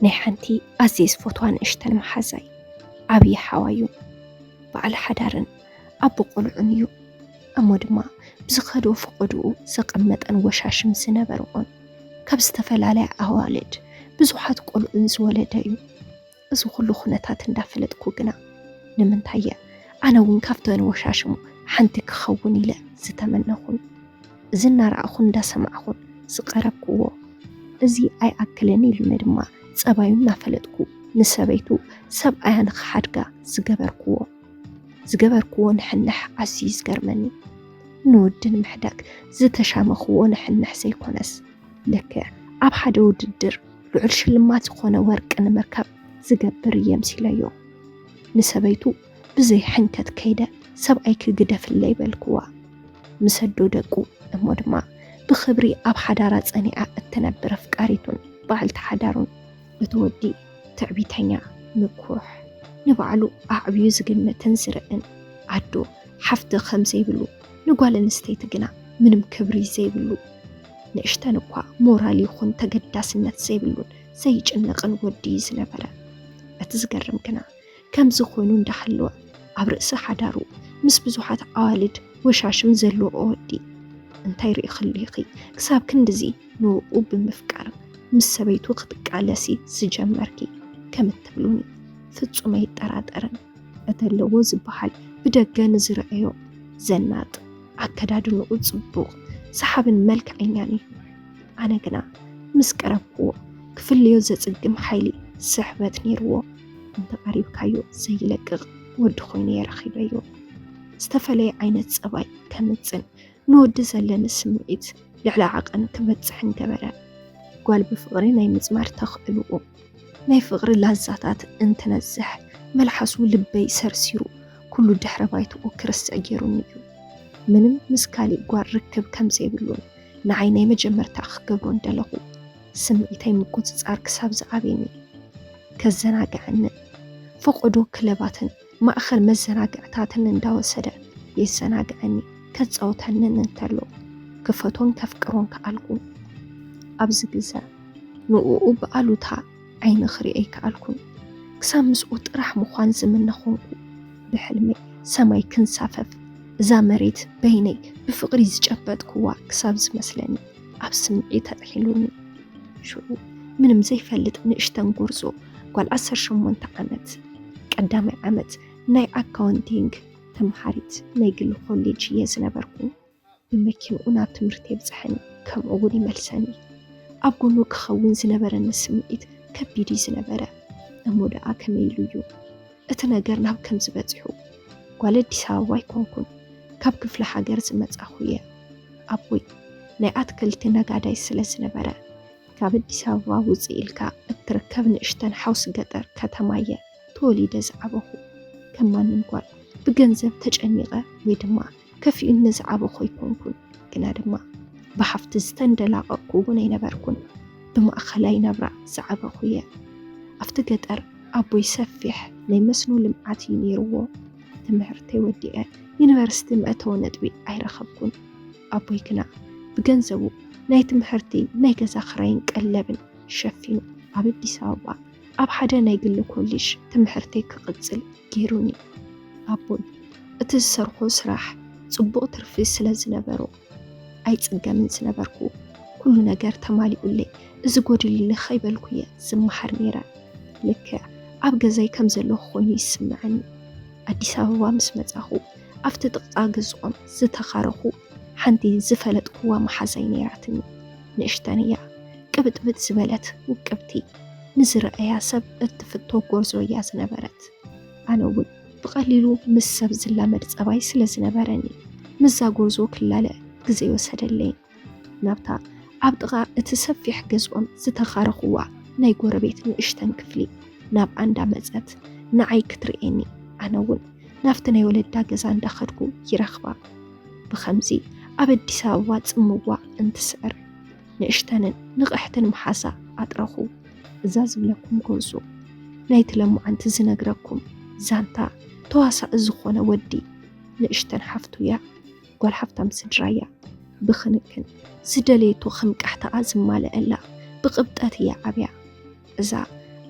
ናይ ሓንቲ ኣዝየ ዝፈትዋ ንእሽተን መሓዛይ ዓብዪ ሓዋዩ በዓል ሓዳርን ኣቦ ቆልዑን እዩ እሞ ድማ ብዝኸዶ ፈቐድኡ ዘቐመጠን ወሻሽም ዝነበርዎን ካብ ዝተፈላለያ ኣዋልድ ብዙሓት ቆልዑን ዝወለደ እዩ እዚ ኩሉ ኩነታት እንዳፈለጥኩ ግና ንምንታይ እየ ኣነ እውን ካብተን ወሻሽሙ ሓንቲ ክኸውን ኢለ ዝተመነኹን እዚ እናረኣኹን እንዳሰማዕኹን ዝቐረብክዎ እዚ ኣይኣክልን ኢሉኒ ድማ ጸባዩ እናፈለጥኩ ንሰበይቱ ሰብኣያ ንኽሓድጋ ዝገበርክዎ ዝገበርክዎ ንሕንሕ ኣዝዩ ዝገርመኒ ንወዲ ንምሕዳግ ዝተሻመኽዎ ንሕንሕ ዘይኮነስ ልክዕ ኣብ ሓደ ውድድር ልዑል ሽልማት ዝኾነ ወርቂ ንምርካብ ዝገብር እየምሲለዮ ንሰበይቱ ብዘይ ሕንከት ከይደ ሰብኣይ ክግደፍለይ በልክዋ ምሰዶ ደቁ እሞ ድማ ብክብሪ ኣብ ሓዳራ ጸኒዓ እትነብር ኣፍቃሪቱን በዓልቲ ሓዳሩን እቲ ወዲ ትዕቢተኛ ምኩሕ ንባዕሉ ኣዕብዩ ዝግምትን ዝርእን ኣዶ ሓፍቲ ከም ዘይብሉ ንጓል ኣንስተይቲ ግና ምንም ክብሪ ዘይብሉ ንእሽተን እኳ ሞራል ይኹን ተገዳስነት ዘይብሉን ዘይጭነቕን ወዲ እዩ ዝነበረ። እቲ ዝገርም ግና ከምዚ ኮይኑ እንዳሃለወ ኣብ ርእሲ ሓዳሩ ምስ ብዙሓት ኣዋልድ ወሻሽም ዘለዎ ወዲ እንታይ ርኢኽሉ ኢኺ ክሳብ ክንድዚ ንኡ ብምፍቃር ምስ ሰበይቱ ክትቃለሲ ዝጀመርኪ ከም እትብሉኒ ፍጹም ኣይጠራጠርን። እተለዎ ዝበሃል ብደገ ንዝረኣዮ ዘናጥ ኣከዳድንኡ ጽቡቕ ሰሓብን መልክዐኛን እዩ። ኣነ ግና ምስ ቀረብክዎ ክፍልዮ ዘጽግም ሓይሊ ስሕበት ነይርዎ። እንተቐሪብካዮ ዘይለቅቕ ወዲ ኮይኑ እየ ረኺበዮ። ዝተፈለየ ዓይነት ጸባይ ከምጽን ንወዲ ዘለኒ ስምዒት ልዕሊ ዓቐን ክበጽሕን ገበረ። ጓል ብፍቕሪ ናይ ምጽማር ተኽእልኡ ናይ ፍቕሪ ላዛታት እንትነዝሕ መልሓሱ ልበይ ሰርሲሩ ኩሉ ድሕረ ባይትኡ ክርስዕ ጌሩኒ እዩ። ምንም ምስ ካሊእ ጓል ርክብ ከም ዘይብሉን ንዓይ ናይ መጀመርታ ክገብሮ እንደለኹ ስምዒተይ ምቁጽጻር ክሳብ ዝኣብየኒ ከዘናግዐንን ፈቖዶ ክለባትን ማእኸል መዘናግዕታትን እንዳወሰደ የዘናግዐኒ፣ ከፃውተንን እንተሎ ክፈቶን ከፍቅሮን ከኣልኩ። ኣብዚ ግዘ ንኡኡ ብኣሉታ ዓይኒ ክሪኦ ኣይከኣልኩን። ክሳብ ምስኡ ጥራሕ ምዃን ዝምነ ኾንኩ። ብሕልመይ ሰማይ ክንሳፈፍ እዛ መሬት በይነይ ብፍቕሪ ዝጨበጥኩዋ ክሳብ ዝመስለኒ። ኣብ ስምዒ ተጥሒሉኒ ሽዑ ምንም ዘይፈልጥ ንእሽተን ጎርዞ ጓል 18 ዓመት ቀዳማይ ዓመት ናይ ኣካውንቲንግ ተምሃሪት ናይ ግሊ ኮሌጅ እየ ዝነበርኩ። ብመኪንኡ ናብ ትምህርቲ የብፅሐኒ ከምኡ እውን ይመልሰኒ። ኣብ ጎኑ ክኸውን ዝነበረኒ ስምዒት ከቢድ እዩ ዝነበረ እሞ ደኣ ከመይ ኢሉ እዩ እቲ ነገር ናብ ከምዚ በጺሑ ጓል ኣዲስ ኣበባ ኣይኮንኩን ካብ ክፍለ ሃገር ዝመጻኹ እየ። ኣቦይ ናይ ኣትክልቲ ነጋዳይ ስለ ዝነበረ ካብ ኣዲስ ኣበባ ውጽእ ኢልካ እትርከብ ንእሽተን ሓውሲ ገጠር ከተማ እየ ተወሊደ ዝዓበኹ። ከም ማንም ጓል ብገንዘብ ተጨኒቐ ወይ ድማ ከፊኡኒ ዝዓበኹ ኣይኮንኩን፣ ግና ድማ ብሃፍቲ ዝተንደላቐቕኩ እውን ኣይነበርኩን። ብማእኸላይ ናብራ ዝዓበኹ እየ። ኣብቲ ገጠር ኣቦይ ሰፊሕ ናይ መስኖ ልምዓት እዩ ነይሩዎ። ትምህርተይ ወዲኤ ዩኒቨርሲቲ መእተዊ ነጥቢ ኣይረኸብኩን። ኣቦይ ግና ብገንዘቡ ናይ ትምህርቲ፣ ናይ ገዛ ክራይን ቀለብን ሸፊኑ ኣብ ኣዲስ ኣበባ ኣብ ሓደ ናይ ግሊ ኮሊጅ ትምሕርተይ ክቕጽል ገይሩኒ። ኣቦይ እቲ ዝሰርሖ ስራሕ ጽቡቕ ትርፊ ስለ ዝነበሮ ኣይጽገምን ዝነበርኩ። ኩሉ ነገር ተማሊኡለይ እዚ ጎዲሉኒ ከይበልኩ እየ ዝመሓር ነይረ። ልክዕ ኣብ ገዛይ ከም ዘለኹ ኮይኑ ይስምዐኒ። ኣዲስ ኣበባ ምስ መጻኹ ኣብቲ ጥቕጣ ገዝኦም ዝተኻረኹ ሓንቲ ዝፈለጥኩዋ መሓዛይ ነይራትኒ። ንእሽተን እያ፣ ቅብጥብጥ ዝበለት ውቅብቲ፣ ንዝረኣያ ሰብ እትፍቶ ጎርዞ እያ ዝነበረት። ኣነ እውን ብቐሊሉ ምስ ሰብ ዝላመድ ጸባይ ስለ ዝነበረኒ ምዛ ጎርዞ ክላለ ግዜ ወሰደለይ። ናብታ ኣብ ጥቓ እቲ ሰፊሕ ገዝኦም ዝተኻረኽዋ ናይ ጎረቤት ንእሽተን ክፍሊ ናብ ኣንዳ መጸት ንዓይ ክትርእየኒ ኣነ እውን ናብቲ ናይ ወለዳ ገዛ እንዳኸድኩ ይረኽባ። ብኸምዚ ኣብ ኣዲስ ኣበባ ጽምዋ እንትስዕር ንእሽተንን ንቕሕትን መሓሳ ኣጥረኹ እዛ ዝብለኩም ጎንሱ ናይቲ ለማዓንቲ ዝነግረኩም ዛንታ ተዋሳኢ ዝኾነ ወዲ ንእሽተን ሓፍቱ እያ ጓል ሓፍታም ስድራ እያ ብክንክን ዝደለየቶ ክንቃሕታኣ ዝማለአላ ብቕብጠት እያ ዓብያ እዛ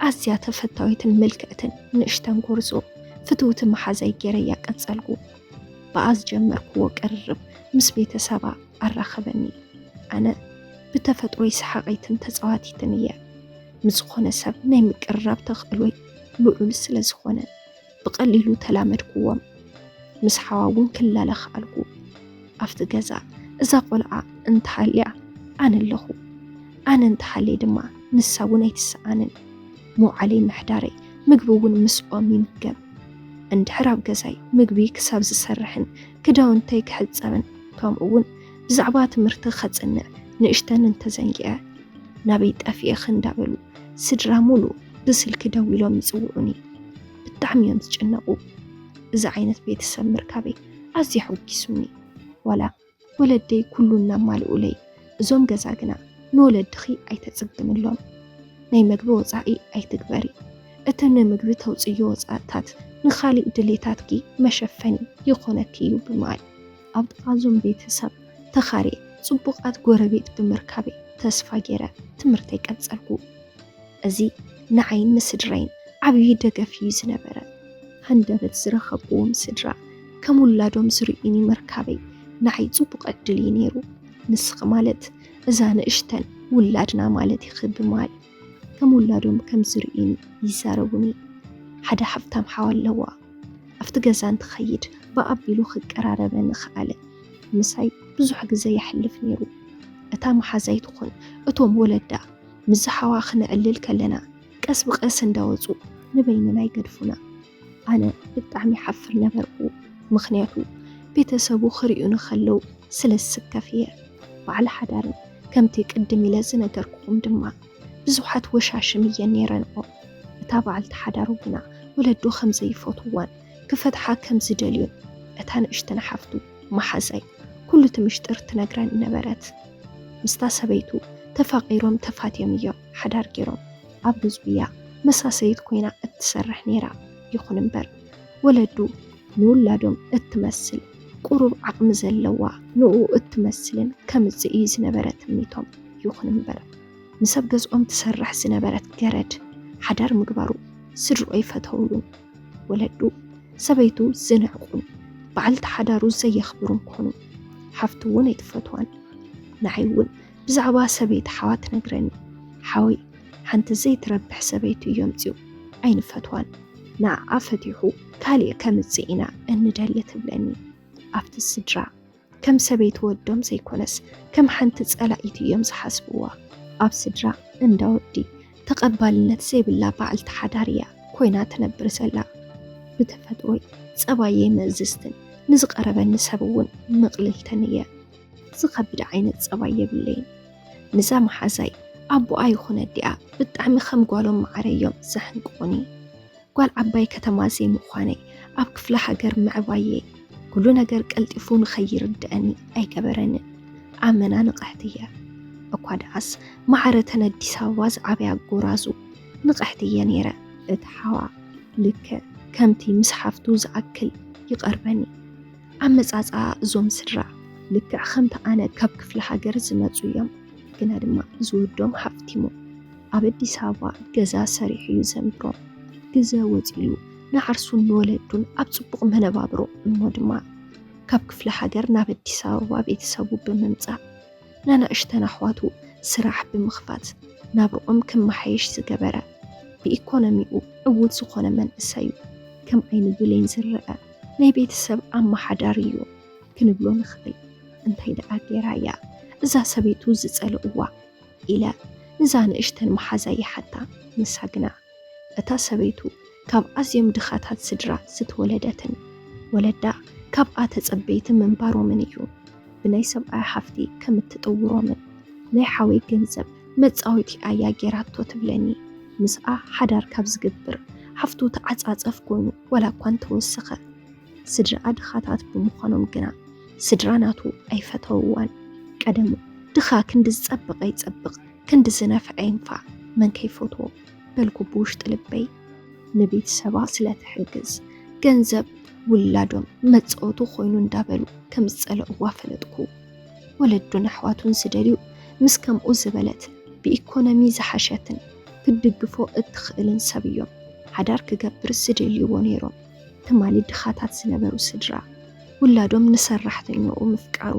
ኣዝያ ተፈታዊትን ምልክዕትን ንእሽተን ጎርዞ ፍትውቲ መሓዛይ ገይረያ ቀጸልኩ። ብኣ ዝጀመርክዎ ቅርርብ ምስ ቤተሰባ ኣራኸበኒ። ኣነ ብተፈጥሮይ ሰሓቒትን ተጻዋቲትን እየ። ምስ ዝኾነ ሰብ ናይ ምቅርራብ ተኽእሎይ ልዑል ስለ ዝኾነ። ብቐሊሉ ተላመድኩዎም። ምስ ሓዋ እውን ክላለ ክኣልኩ። ኣብቲ ገዛ እዛ ቆልዓ እንተሃልያ ኣነ ኣለኹ፣ ኣነ እንተሃልየ ድማ ንሳ እውን ኣይትሰኣንን። ምውዓለይ ምሕዳረይ፣ ምግቢ እውን ምስኦም ይምገብ። እንድሕር ኣብ ገዛይ ምግቢ ክሳብ ዝሰርሕን ክዳውንተይ ክሕፀብን ከምኡ እውን ብዛዕባ ትምህርቲ ከፅንዕ ንእሽተን እንተዘንጊዐ ናበይ ጠፊኤኺ እንዳበሉ ስድራ ሙሉ ብስልኪ ደዊሎም ይፅውዑኒ ብጣዕሚ እዮም ዝጭነቁ እዚ ዓይነት ቤተሰብ ምርካበይ ኣዝዩ ኣሐጒሱኒ ዋላ ወለደይ ኩሉ እናማልኡለይ እዞም ገዛ ግና ንወለድኺ ኣይተፅግምሎም ናይ መግቢ ወፃኢ ኣይትግበሪ እቲ ንምግቢ ተውፅዮ ወፃእታት ንካሊእ ድሌታትኪ መሸፈኒ ይኾነኪ እዩ ብምባል ኣብ ጥቓ እዞም ቤተሰብ ተኻርየ ጽቡቓት ጎረቤት ብምርካበይ ተስፋ ገይረ ትምህርተይ ቀጸልኩ። እዚ ንዓይን ንስድራይን ዓብዪ ደገፍ እዩ ዝነበረ። ሃንደበት ዝረኸብክዎም ስድራ ከም ውላዶም ዝርእዩኒ ምርካበይ ንዓይ ጽቡቕ ዕድል እዩ ነይሩ። ንስኺ ማለት እዛ ንእሽተን ውላድና ማለት ኢኺ ብማል። ከም ውላዶም ከም ዝርእዩን ይዛረቡኒ። ሓደ ሃብታም ሓው ኣለዋ። ኣብቲ ገዛ እንትኸይድ ብኣቢሉ ክቀራረበኒ ኸኣለ። ምሳይ ብዙሕ ግዘ የሕልፍ ነይሩ። እታ መሓዛይ ትኹን እቶም ወለዳ ምስ ዝሓዋ ክነዕልል ከለና ቀስ ብቐስ እንዳወፁ ንበይንና ይገድፉና። ኣነ ብጣዕሚ ይሓፍር ነበርኩ ምኽንያቱ ቤተሰቡ ክሪኡኒ ከለው ስለ ዝስከፍ እየ በዓል ሓዳር ከምቲ ቅድም ኢለ ዝነገርኩኹም ድማ ብዙሓት ወሻሽም እየን ነይረንኦ እታ በዓልቲ ሓዳሩ ግና ወለዱ ከም ዘይፈትውዋን ክፈትሓ ከም ዝደልዩን እታ ንእሽተን ሓፍቱ መሓዛይ ኩሉ እቲ ምሽጥር ትነግረኒ ነበረት ምስታ ሰበይቱ ተፋቒሮም ተፋትዮም እዮም ሓዳር ገይሮም ኣብ ህዝቢ'ያ መሳሰይት ኮይና እትሰርሕ ነይራ። ይኹን'ምበር ወለዱ ንውላዶም እትመስል፣ ቁሩብ ዓቕሚ ዘለዋ ንኡ እትመስልን ከምጽእ እዩ ዝነበረ ትምኒቶም። ይኹን'ምበር ምስ ኣብ ገዝኦም ትሰርሕ ዝነበረት ገረድ ሓዳር ምግባሩ ስድርኡ ኣይፈተውሉን። ወለዱ ሰበይቱ ዝንዕቁን በዓልቲ ሓዳሩ ዘየኽብሩን ኮኑ። ሓፍቱ'ውን ኣይትፈትዋን። ንዓይ'ውን ብዛዕባ ሰበይቲ ሓዋት ነግረኒ ሓወይ ሓንቲ ዘይትረብሕ ሰበይቱ እዮምፅኡ ኣይንፈትዋን ንኣኣ ፈቲሑ ካሊእ ከምፅእ ኢና እንደሊ ትብለኒ ኣብቲ ስድራ ከም ሰበይቲ ወዶም ዘይኮነስ ከም ሓንቲ ፀላኢት እዮም ዝሓስብዋ ኣብ ስድራ እንዳ ወዲ ተቐባልነት ዘይብላ በዓልቲ ሓዳር እያ ኮይና ትነብር ዘላ ብተፈጥሮይ ፀባየይ ምእዝዝትን ንዝቐረበኒ ሰብ እውን ምቕልልትን እየ ዝኸብድ ዓይነት ጸባይ የብለይን ንዛ መሓዛይ ኣቦኣ ይኹነ ኣዲኣ ብጣዕሚ ከም ጓሎም መዓረ እዮም ዘሕንቅቑኒ ጓል ዓባይ ከተማ ዘይምዃነይ ኣብ ክፍለ ሃገር ምዕባየይ ኩሉ ነገር ቀልጢፉ ንኸይርድአኒ ኣይገበረንን ኣመና ንቕሕቲ እየ እኳ ደኣስ መዓረተን ኣዲስ ኣበባ ዝዓበያ ጎራዙ ንቕሕቲ እየ ነይረ እቲ ሓዋ ልክዕ ከምቲ ምስ ሓፍቱ ዝኣክል ይቐርበኒ ኣመጻጽኣ እዞም ስድራ ልክዕ ከምቲ ኣነ ካብ ክፍለ ሃገር ዝመጹ እዮም። ግና ድማ ዝወዶም ሃፍቲሙ ኣብ ኣዲስ ኣበባ ገዛ ሰሪሑ እዩ ዘንብሮም። ግዘ ወጺሉ ንዓርሱን ንወለዱን ኣብ ጽቡቕ መነባብሮ እሞ ድማ ካብ ክፍለ ሃገር ናብ ኣዲስ ኣበባ ቤተሰቡ ብምምጻእ ናናእሽተን ኣሕዋቱ ስራሕ ብምኽፋት ናብርኦም ክመሓየሽ ዝገበረ ብኢኮኖሚኡ ዕዉት ዝኾነ መንእሰዩ ከም ዓይኒ ብሌን ዝረአ ናይ ቤተሰብ ኣመሓዳሪ እዩ ክንብሎ ንኽእል። እንታይ ደኣ ጌራ እያ እዛ ሰበይቱ ዝጸልእዋ ኢለ እዛ ንእሽተን መሓዛ ይሓታ። ንሳ ግና እታ ሰበይቱ ካብ ኣዝዮም ድኻታት ስድራ ዝተወለደትን ወለዳ ካብኣ ተጸበይቲ ምንባሮምን እዩ ብናይ ሰብኣያ ሓፍቲ ከም እትጥውሮምን ናይ ሓወይ ገንዘብ መጻወቲ ኣያ ጌራቶ ትብለኒ። ምስኣ ሓዳር ካብ ዝግብር ሓፍቱ ተዓጻጸፍ ኮይኑ ዋላ እኳ እንተወሰኸ ስድራኣ ድኻታት ብምዃኖም ግና ስድራ ናቱ ኣይፈተውዋን። ቀደሙ ድኻ ክንዲ ዝጸብቐ ይጸብቕ ክንዲ ዝነፍዐ ይንፋዕ መን ከይፈትዎ በልኩ ብውሽጢ ልበይ። ንቤተሰባ ስለ ትሕግዝ ገንዘብ ውላዶም መጻወቲ ኮይኑ እንዳበሉ ከም ዝጸለእዋ ፈለጥኩ። ወለዱን ኣሕዋቱን ዝደልዩ ምስ ከምኡ ዝበለት ብኢኮኖሚ ዝሓሸትን ክትድግፎ እትኽእልን ሰብ እዮም ሓዳር ክገብር ዝደልይዎ ነይሮም። ትማሊ ድኻታት ዝነበሩ ስድራ ውላዶም ንሰራሕተኛኡ ምፍቃሩ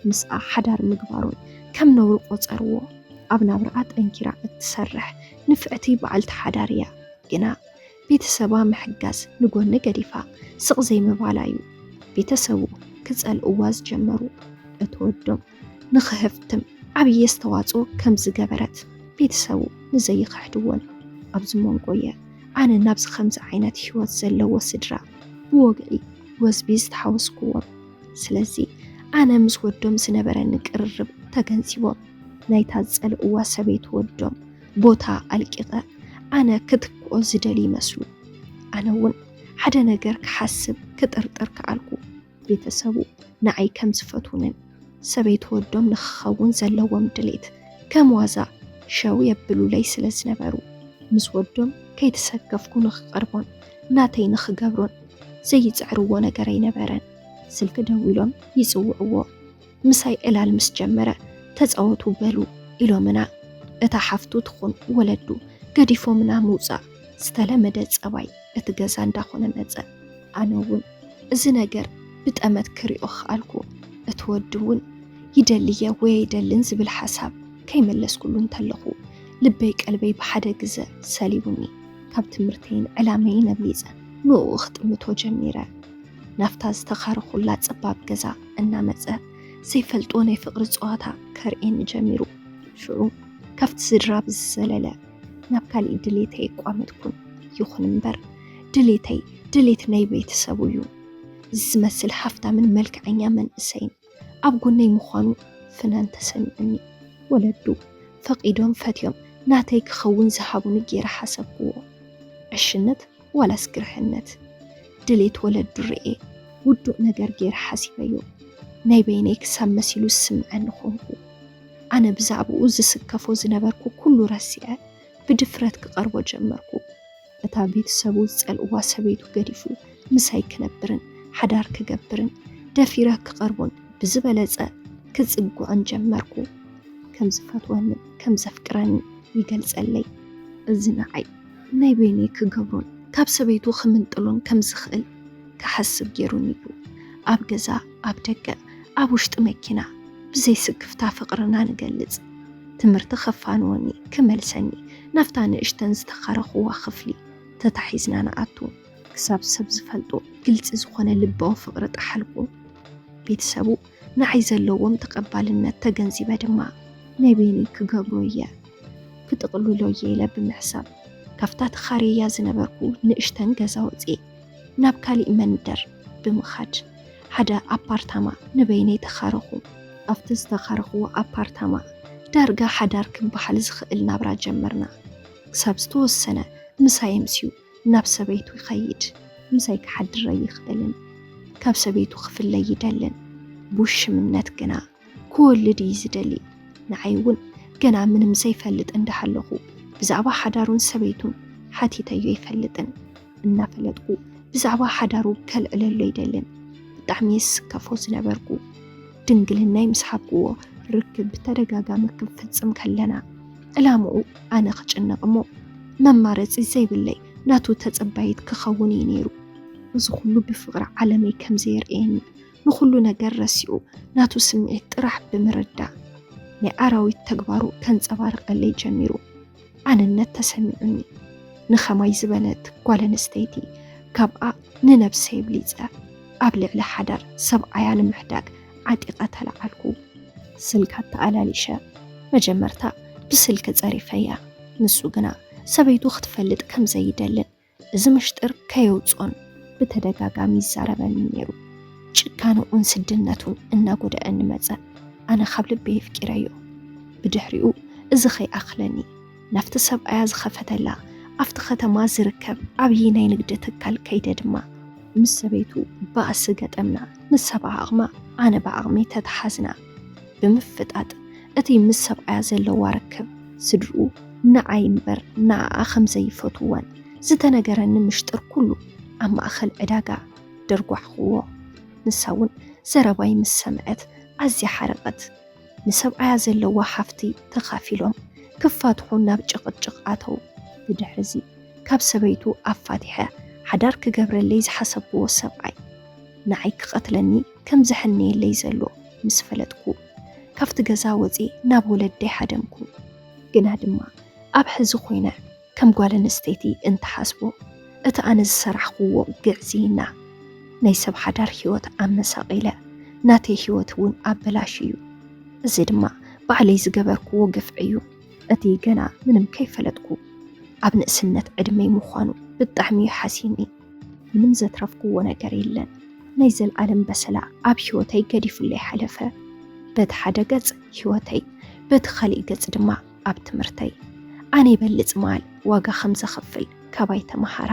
ምስኣ ሓዳር ምግባሩን ከም ነውሪ ቆጸርዎ። ኣብ ናብርኣ ጠንኪራ እትሰርሕ ንፍዕቲ በዓልቲ ሓዳር እያ። ግና ቤተሰባ ምሕጋዝ ንጎኒ ገዲፋ ስቕ ዘይምባላ ዩ ቤተሰቡ ክፀልእዋ ዝጀመሩ። እቲ ወዶም ንክህፍትም ዓብዪ ኣስተዋፅኦ ከም ዝገበረት ቤተሰቡ ንዘይክሕድዎን ኣብዚ መንጎ የ ኣነ ናብዚ ከምዚ ዓይነት ህይወት ዘለዎ ስድራ ብወግዒ ወዝቢ ዝተሓወስኩዎም። ስለዚ ኣነ ምስ ወዶም ዝነበረኒ ቅርርብ ተገንዚቦም ናይታ ዝፀልእዋ ሰበይቱ ወዶም ቦታ ኣልቂቐ ኣነ ክትክኦ ዝደሊ ይመስሉ። ኣነ እውን ሓደ ነገር ክሓስብ ክጥርጥር ከኣልኩ። ቤተሰቡ ንዓይ ከም ዝፈትውንን ሰበይት ወዶም ንክኸውን ዘለዎም ድሌት ከም ዋዛ ሸው የብሉለይ ስለ ዝነበሩ ምስ ወዶም ከይተሰከፍኩ ንክቐርቦን ናተይ ንክገብሮን ዘይፅዕርዎ ነገር ኣይነበረን። ስልኪ ደዊሎም ይፅውዕዎ። ምሳይ ዕላል ምስ ጀመረ ተፃወቱ በሉ ኢሎምና እታ ሓፍቱ ትኹን ወለዱ ገዲፎምና ምውፃእ ዝተለመደ ፀባይ እቲ ገዛ እንዳኾነ መፀ። ኣነ እውን እዚ ነገር ብጠመት ክሪኦ ኸኣልኩ። እቲ ወዲ እውን ይደሊየ ወይ ኣይደልን ዝብል ሓሳብ ከይመለስኩሉ እንተለኹ ልበይ ቀልበይ ብሓደ ግዘ ሰሊቡኒ። ካብ ትምህርተይን ዕላመይን ኣብሊፀ ንኡ ክጥምቶ ጀሚረ። ናብታ ዝተኻረኹላ ጸባብ ገዛ እናመጸ ዘይፈልጦ ናይ ፍቕሪ ጸዋታ ከርእየኒ ጀሚሩ። ሽዑ ካብቲ ስድራ ብዝዘለለ ናብ ካሊእ ድሌተይ የቋመትኩን። ይኹን እምበር ድሌተይ ድሌት ናይ ቤተሰቡ እዩ። ዝመስል ሃፍታምን መልክዐኛ መንእሰይን ኣብ ጎነይ ምዃኑ ፍናን ተሰሚዑኒ። ወለዱ ፈቒዶም ፈትዮም ናተይ ክኸውን ዝሃቡኒ ገይረ ሓሰብኩዎ። ዕሽነት ዋላስ ግርሕነት? ድሌት ወለዱ ርእየ ውዱእ ነገር ገይረ ሓሲበዮ። ናይ በይነይ ክሳብ መሲሉ ዝስምዐኒ ኾንኩ። ኣነ ብዛዕብኡ ዝስከፎ ዝነበርኩ ኩሉ ረሲዐ ብድፍረት ክቐርቦ ጀመርኩ። እታ ቤተሰቡ ዝጸልእዋ ሰበይቱ ገዲፉ ምሳይ ክነብርን ሓዳር ክገብርን ደፊረ ክቐርቦን ብዝበለጸ ክጽግዖን ጀመርኩ። ከም ዝፈትወንን ከም ዘፍቅረንን ይገልጸለይ። እዚ ንዓይ ናይ በይነይ ክገብሮን ካብ ሰበይቱ ክምንጥሎን ከም ዝኽእል ክሓስብ ገይሩኒ እዩ። ኣብ ገዛ ኣብ ደገ ኣብ ውሽጢ መኪና ብዘይ ስክፍታ ፍቅርና ንገልጽ። ትምህርቲ ከፋንወኒ ክመልሰኒ ናብታ ንእሽተን ዝተኸረኹዋ ክፍሊ ተታሒዝና ንኣቱ። ክሳብ ሰብ ዝፈልጦ ግልጺ ዝኾነ ልባዊ ፍቅሪ ጠሓልኩ። ቤተሰቡ ንዓይ ዘለዎም ተቀባልነት ተገንዚበ ድማ ናይ በይነይ ክገብሮ እየ ክጥቅልሎ እየ ኢለ ብምሕሳብ ካብታ ተኻርየያ ዝነበርኩ ንእሽተን ገዛ ወጽየ። ናብ ካሊእ መንደር ብምኻድ ሓደ ኣፓርታማ ንበይነይ ተኻረኹ። ኣብቲ ዝተኻረኹዎ ኣፓርታማ ዳርጋ ሓዳር ክበሃል ዝኽእል ናብራ ጀመርና። ክሳብ ዝተወሰነ ምሳይ ኣምስዩ ናብ ሰበይቱ ይኸይድ። ምሳይ ክሓድር ኣይኽእልን። ካብ ሰበይቱ ክፍለ ይደልን። ብውሽምነት ግና ክወልድ እዩ ዝደሊ ንዓይ እውን ገና ምንም ዘይፈልጥ እንዳሃለኹ ብዛዕባ ሓዳሩን ሰበይቱን ሓቲተዮ ኣይፈልጥን እናፈለጥኩ ብዛዕባ ሓዳሩ ከልዕለሉ ኣይደልን ብጣዕሚ የስከፎ ዝነበርኩ ድንግልናይ ምስ ሓብክዎ ርክብ ብተደጋጋሚ ክንፍፅም ከለና ዕላምኡ ኣነ ክጭነቕ እሞ መማረፂ ዘይብለይ ናቱ ተፀባይት ክኸውን እዩ ነይሩ እዚ ኩሉ ብፍቕሪ ዓለመይ ከምዘየርእየኒ ንኹሉ ነገር ረሲኡ ናቱ ስምዒት ጥራሕ ብምርዳእ ናይ ኣራዊት ተግባሩ ከንጸባርቐለይ ጀሚሩ። ኣነነት ተሰሚዑኒ። ንኸማይ ዝበለት ጓል ኣንስተይቲ ካብኣ ንነብሰይ ኣብሊጸ ኣብ ልዕሊ ሓዳር ሰብኣያ ንምሕዳግ ዓጢቐ ተለዓልኩ። ስልካ ኣተኣላሊሸ። መጀመርታ ብስልኪ ጸሪፈያ፣ ንሱ ግና ሰበይቱ ክትፈልጥ ከም ዘይደልን እዚ ምሽጥር ከየውፅኦን ብተደጋጋሚ ይዛረበኒ ነይሩ። ጭካንኡን ስድነቱን እናጎደአኒ መፀ። ኣነ ካብ ልቢ የፍቂረዮ። ብድሕሪኡ እዚ ከይኣኽለኒ ናብቲ ሰብኣያ ዝኸፈተላ ኣብቲ ከተማ ዝርከብ ዓብዪ ናይ ንግዲ ትካል ከይደ ድማ ምስ ሰበይቱ ባእሲ ገጠምና። ንሳ ብዓቕማ ኣነ ብዓቕመይ ተተሓዝና። ብምፍጣጥ እቲ ምስ ሰብኣያ ዘለዋ ርክብ ስድርኡ ንዓይ እምበር ንኣኣ ከም ዘይፈትዋን ዝተነገረኒ ምሽጥር ኩሉ ኣብ ማእኸል ዕዳጋ ደርጓሕኹዎ። ንሳ እውን ዘረባይ ምስ ሰምዐት ኣዝያ ሓረቐት። ንሰብኣያ ዘለዋ ሃፍቲ ተኻፊሎም ክፋትሑ ናብ ጭቕጭቕ ኣተው። ብድሕሪ እዚ ካብ ሰበይቱ ኣፋቲሐ ሓዳር ክገብረለይ ዝሓሰብኩዎ ሰብኣይ ንዓይ ክቐትለኒ ከም ዘሕንየለይ ዘሎ ምስ ፈለጥኩ ካብቲ ገዛ ወፂ ናብ ወለደይ ሓደምኩ። ግና ድማ ኣብ ሕዚ ኮይነ ከም ጓል ኣንስተይቲ እንትሓስቦ እቲ ኣነ ዝሰራሕክዎ ግዕዝይና ናይ ሰብ ሓዳር ህይወት ኣመሳቂለ ናተይ ህይወት እውን ኣበላሽ እዩ። እዚ ድማ ባዕለይ ዝገበርክዎ ግፍዒ እዩ። እቲ ገና ምንም ከይፈለጥኩ ኣብ ንእስነት ዕድመይ ምዃኑ ብጣዕሚ እዩ ሓሲኒ። ምንም ዘትረፍኩዎ ነገር የለን። ናይ ዘልዓለም በሰላ ኣብ ህይወተይ ገዲፉለይ ሓለፈ። በቲ ሓደ ገጽ ህይወተይ፣ በቲ ኻሊእ ገጽ ድማ ኣብ ትምህርተይ ኣነ ይበልጽ መዓል ዋጋ ከም ዘኽፍል ካባይ ተመሃራ።